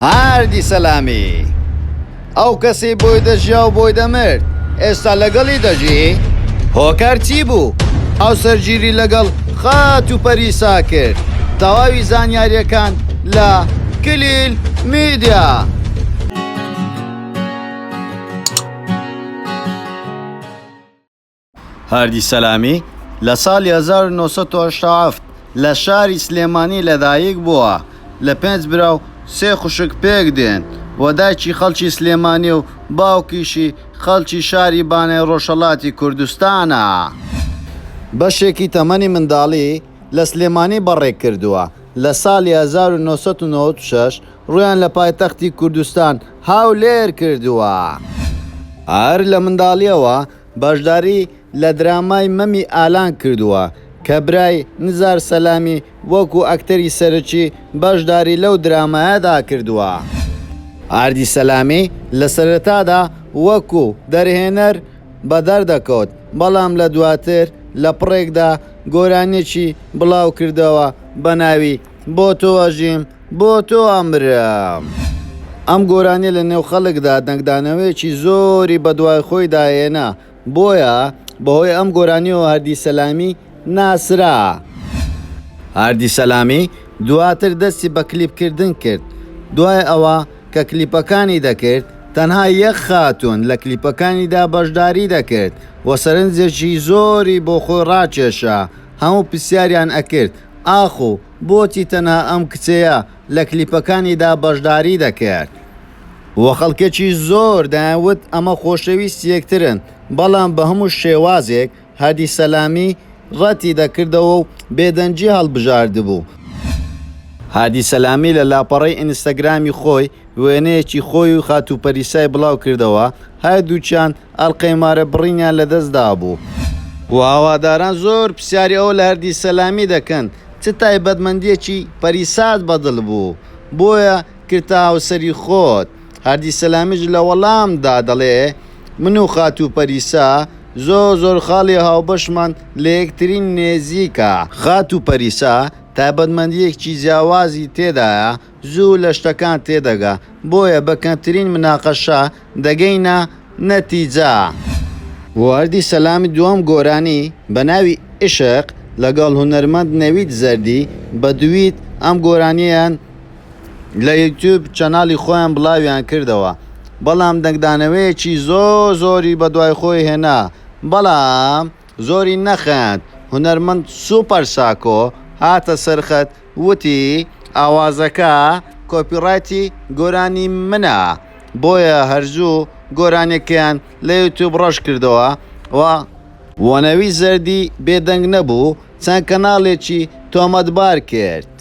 هادی سەلامی، ئەو کەسەی بۆی دەژیا و بۆی دەمرد، ئێستا لەگەڵی دەژی؟ هۆکار چی بوو؟ ئەو سەرگیری لەگەڵ خات و پەریسا کرد. تەواوی زانیارییەکان لە، کلیل میدیا. هادی سەلامی لە ساڵی هەزار و نۆ سەد و هەشتا و هەفت لە شاری سلێمانی لەدایک بووە، لە پێنج برا و سێ خوشک پێک دێن و دایکی خەڵکی سلێمانییە و باوکیشی خەڵکی شاری بانەی ڕۆژهەڵاتی کوردستانە. بەشێکی تەمەنی منداڵی لە سلێمانی بەڕێ کردووە، لە ساڵی هەزار و نۆ سەد و نەوەد و شەش ڕوویان لە پایتەختی کوردستان هەولێر کردووە. هەر لە منداڵییەوە بەشداری لە درامای مەمی ئالان کردووە کە برای نزار سەلامی وەکو ئەکتەری سەرەکی بەشداری لەو درامایەدا کردووە. ئاردی سەلامی لە سەرەتادا وەکو دەرهێنەر بەدەردەکەوت، بەڵام لە دواتر لە پڕێکدا گۆرانیەکی بڵاوکردەوە بە ناوی بۆ تۆ ئەژیم، بۆ تۆ ئەمرم. ئەم گۆرانیە لە نێو خەڵکدا دەنگدانەوەیەکی زۆری بە دوای خۆیدا هێنا، بۆیە بەهۆی ئەم گۆرانیەوە هەردی سەلامی ناسرا. هەردی سەلامی دواتر دەستی بە کلیپ کردن کرد، دوای ئەوە کە کلیپەکانی دەکرد تەنها یەک خاتوون لە کلیپەکانیدا بەشداری دەکرد و سەرنجێکی زۆری بۆ خۆی ڕاکێشا، هەموو پرسیاریان ئەکرد ئاخۆ. بۆچی تەنها ئەم کچەیە لە کلیپەکانیدا بەشداری دەکرد و خەڵکێکی زۆر دەیانوت ئەمە خۆشەویستی یەکترن، بەڵام بە هەموو شێوازێک هادی سەلامی ڕەتی دەکردەوە و بێدەنگی هەڵبژاردبوو. هادی سەلامی لە لاپەڕەی ئینستاگرامی خۆی، وێنەیەکی خۆی و خاتوو پەریسای بڵاو کردەوە، هەردووکیان ئەڵقەی مارە بڕینیان لە دەست دابوو. و هەواداران زۆر پرسیاری ئەو لە هەردی سەلامی دەکەن، چ تایبەتمەندییەکی پەریسات بە دڵ بوو، بۆیە کردتە هاوسەری خۆت؟ هەردی سەلامیش لە وەڵام دا دەڵێ، من و خاتوو پەریسا زۆر زۆر خاڵی هاوبەشمان لە یەکتری نێزیکە. خاتوو پەریسا تایبەتمەندییەکی جیاوازی تێدایە، زوو لە شتەکان تێدەگا بۆیە بە کەمترین مناقەشە دەگەینە نەتیجە. بۆردی سەلامی دووەم گۆرانی بە ناوی ئیشق لەگەڵ هونەرمەند نەوید زەردی بە دوویت ئەم گۆرانیەیان لە یوتیوب چەناڵی خۆیان بڵاویان کردەوە بەڵام دەنگدانەوەیەکی زۆر زۆری بەدوای خۆی هێنا بەڵام زۆری نەخەند، هونەرمەند سوپەر ساکۆ هاتە سەر خەت وتی، ئاوازەکە کۆپیڕایتی گۆرانی منە، بۆیە هەر زوو گۆرانیەکەیان لە یوتیوب ڕەش کردەوە و، و نەوید زەردی بێدەنگ نەبوو چەند کەناڵێکی تۆمەتبار کرد،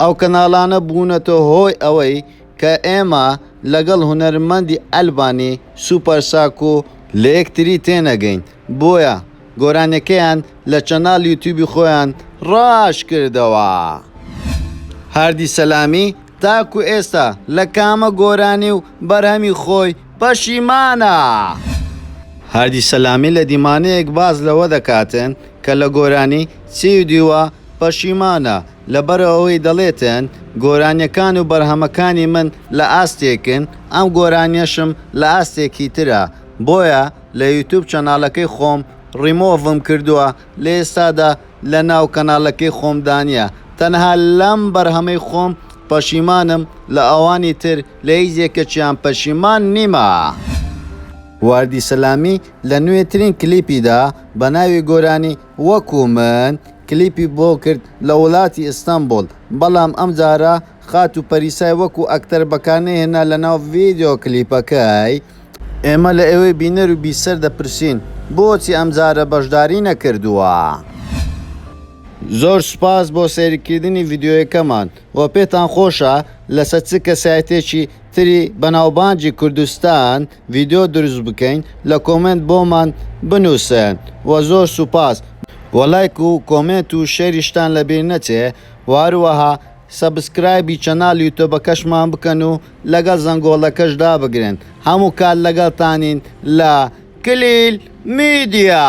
ئەو کەناڵانە بوونەتە هۆی ئەوەی کە ئێمە لەگەڵ هونەرمەندی ئەلبانی سوپەر ساک و لە یەکتری تێنەگەین بۆیە گۆرانیەکەیان لە چەناڵ یوتیوبی خۆیان ڕاش کردەوە هاردی سەلامی تاکو ئێستا لە کامە گۆرانی و بەرهەمی خۆی پەشیمانە. هاردی سەلامی لە دیمانەیەک باس لەوە دەکاتن کە لە گۆرانی چیدیوە پەشیمانە، لەبەرئەوەی دەڵێتن گۆرانیەکان و بەرهەمەکانی من لە ئاستێکن ئەم گۆرانیەشم لە ئاستێکی ترە بۆیە لە یوتوب چەناڵەکەی خۆم ڕیمۆڤم کردوە لە ئێستادا لە ناو کەناڵەکەی خۆمدانیە تەنها لەم بەرهەمەی خۆم پەشیمانم لە ئەوانی تر لە هیچ یەکەکیان پەشیمان نیمە. واردی سەلامی لە نوێترین کلیپیدا بە ناوی گۆرانی وەکو من کلیپی بۆ کرد لە ولاتی ئیستەنبوڵ بەڵام ئەم جارە خاتو پەریسای وەکو ئەکتەر بەکارنەی هێنا لە ناو ڤیدیۆ کلیپەکەی. ئێمە لە ئێوەی بینەر و بیسەر دەپرسین بۆچی ئەم جارە بەشداری نەکردووە؟ زۆر سوپاس بۆ سەیرکردنی ڤیدیۆیەکەمان و پێتان خۆشە لەسەر چ کەسایەتیەکی تری بەناوبانگی کوردستان ڤیدۆ دروست بکەین لە کۆمێنت بۆمان بنوسن وە زۆر سوپاس وە لایک و کۆمێنت و شێریشتان لە بیر نەچێ وە هەروەها سەبسکرایبی چەنال یوتۆبەکەشمان بکەن و لەگەڵ زەنگۆڵەکەش دابگرن هەموو کات لەگەڵتانین لە کلیل میدیا.